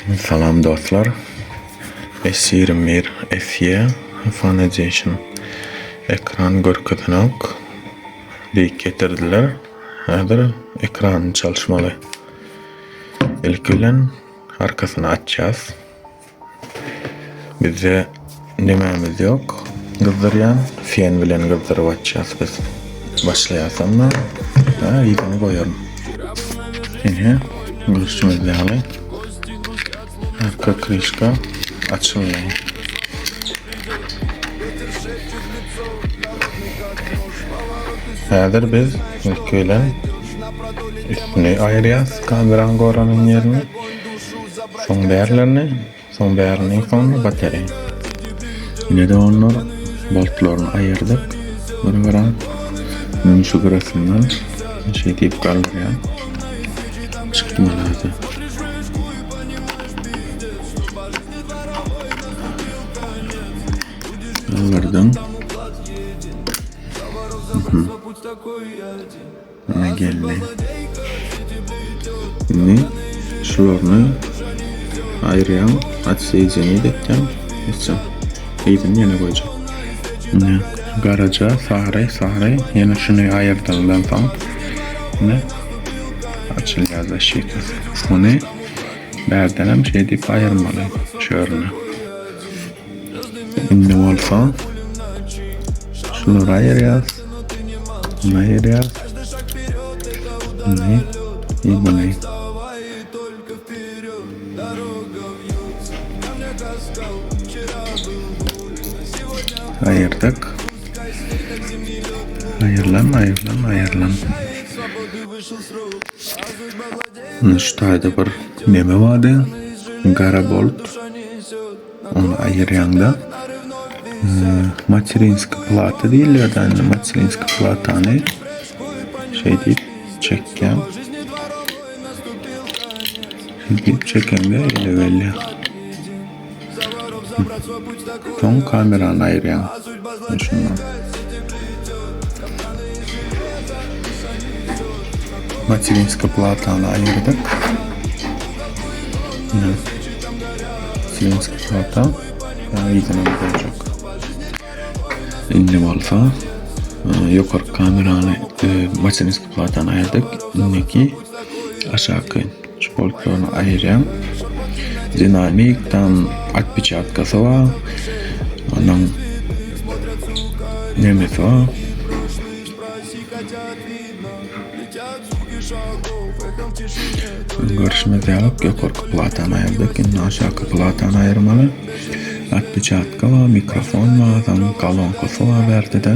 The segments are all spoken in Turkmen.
Salam dostlar. S ýigrimi bir SE Hyfan Edition ekran görkezenok diýip getirdiler. Häzir ekrany çalyşmaly. Ilki bilen arkasyny açýas. Bizde nemämiz ýok? Gyzdyrýan, fen bilen gyzdyryp atýas biz. Başlaýasam da, ha, ýüzüni goýaryn. Ine, gürçümiz ýaly. Arka krişka açyldy. Häzir biz ilki bilen üstüni aýyrýas, kameran goranyň ýerini. Soň bärlerini, soň bärini, soňra bateri. Ine de onlar boltlaryny aýyrdyk. Bunu gören men şu gyrasyndan şey diýip galdyrýan. Çykdy manazy. Galdyrdım. Mhm. Ýadyma geldi. Indi şularyny aýyrýan, otseýjeniýe depýän. Ýykjam. Eýsem ýene goýjak. Indi garaja, sary, sary. Ýene şuny aýyrdandan soň indi açylýar zaşitası. Muny bärdenem şeýdip aýyrmaly şörüne. Indi bolsa şulary aýyrýas. Muny aýyrýas. Muny we muny. Aýyrdyk. Aýyrlan, aýyrlan, aýyrlan. Muny şu taýda bir neme bardy. Gara bolt. Ony aýyrýaňda materinski plata diýilýärdi. Indi materinski platany şeý diýip çekýän. Şeý diýip çekeňde ele gelýär. Soň kamerany aýyrýaň. Materinska platany aýyrdyk. Ine. Materinska plata ýüzüne boljak. Indi bolsa ýokarky kamerany materinska platany aýyrdyk. Indiki aşaky Sportlaryny aýyrýan dinamik tam atpiçatkasy bar. Onuň nemesi bar. Görüşimiz ýalyk ýokarky platany aýyrdyk. Indi aşaky platany aýyrmaly. Atpiçatka bar, mikrofon bar, kolonka bar bärde-de.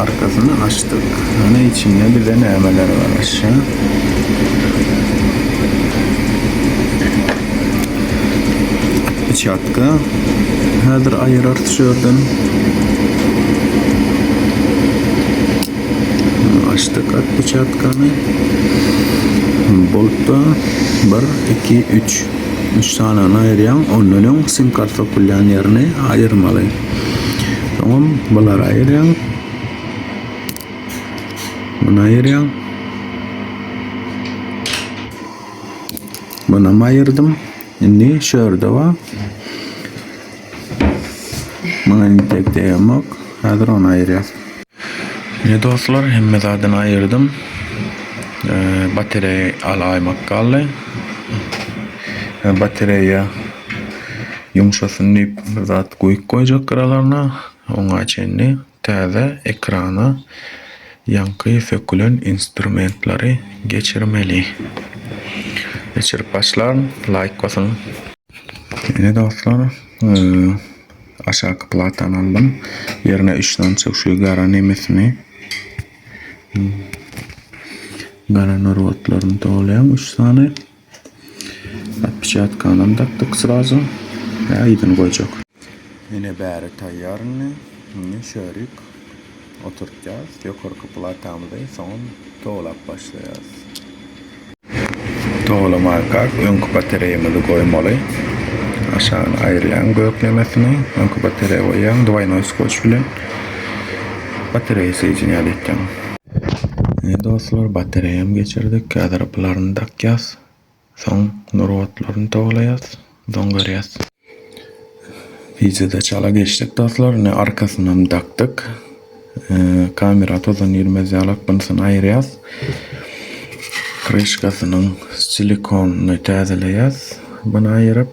Arkasyny açdyk. Ine içinde bize nämeler garaşýar. Peçatka. Häzir aýyrarys şu ýerden. Açdyk at peçatkany. Boltda 1, 2, 3. 3 sanyny aýyrýaň. Ondan öň sim kart sokylýan ýerini aýyrmaly. Soňam bulary aýyrýaň. Muny aýyrýaň. Muny hem aýyrdym. Indi şu ýerde bar. Muňa indi tek degmok. Häzir ony aýyrýas. Ne dostlar, hemme zadyny aýyrdym. Ee, batareýa alaýmak galdy. Ee, batareýa Ýumşasyn diýip bir zat guýup goýjak gyralaryna, oňa çenli täze ekrana ýaňky sökülen instrumentlary geçirmeli. Geçirip başlan laýk basyn. Ine dostlar, aşaky platany aldym. Ýerine üç sany çöwşügi gara nemesini gara narwatlaryny dolaýaň üç sany. Pişatkanam dakdyk srazu. Aýdyny goýjak. Ine bäri taýýar indi. Indi şörik oturtýas. Ýokarky platamyzy soňam towlap başlaýas. Towlamarkak öňki batareýamyzy goýmaly. Aşagyny aýyrýaň göklemesini. Öňki batareýa goýýaň dwaýnoý skoç bilen. Batareýa seýjini ýaly etýäň. Ine dostlar batareýam geçirdik häzir pylaryny dakýas. Soň nur otlaryny towalaýas. Soň görýäs. Wideoda çala geçdik dostlar. Ine arkasynam dakdyk. Kamera tozan girmez ýalak bunsyny aýyrýas. Krişkasynyň silikonny täzeleýäs. Buny aýyryp.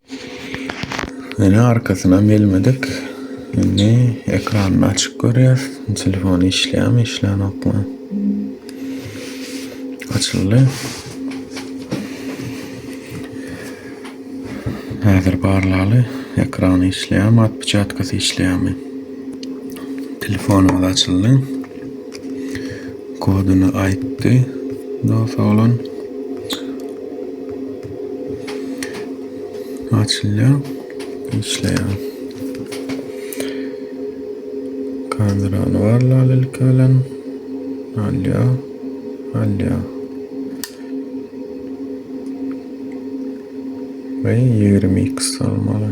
Ýöne arkasyna gelmedik. Indi ekranyny açyp görýäs. Telefony işleýärmi, işlänokmy? Açyldy. Häzir barlaly. Ekrany işleýärmi, atpiçatkasy işleýärmi? Telefonymyz açyldy. Kodyny aýtdy dos oglan. Açylýar. Işleýär. Kamerany barlal ilki bilen. Alýar. Alýar. Ve 20x almaly.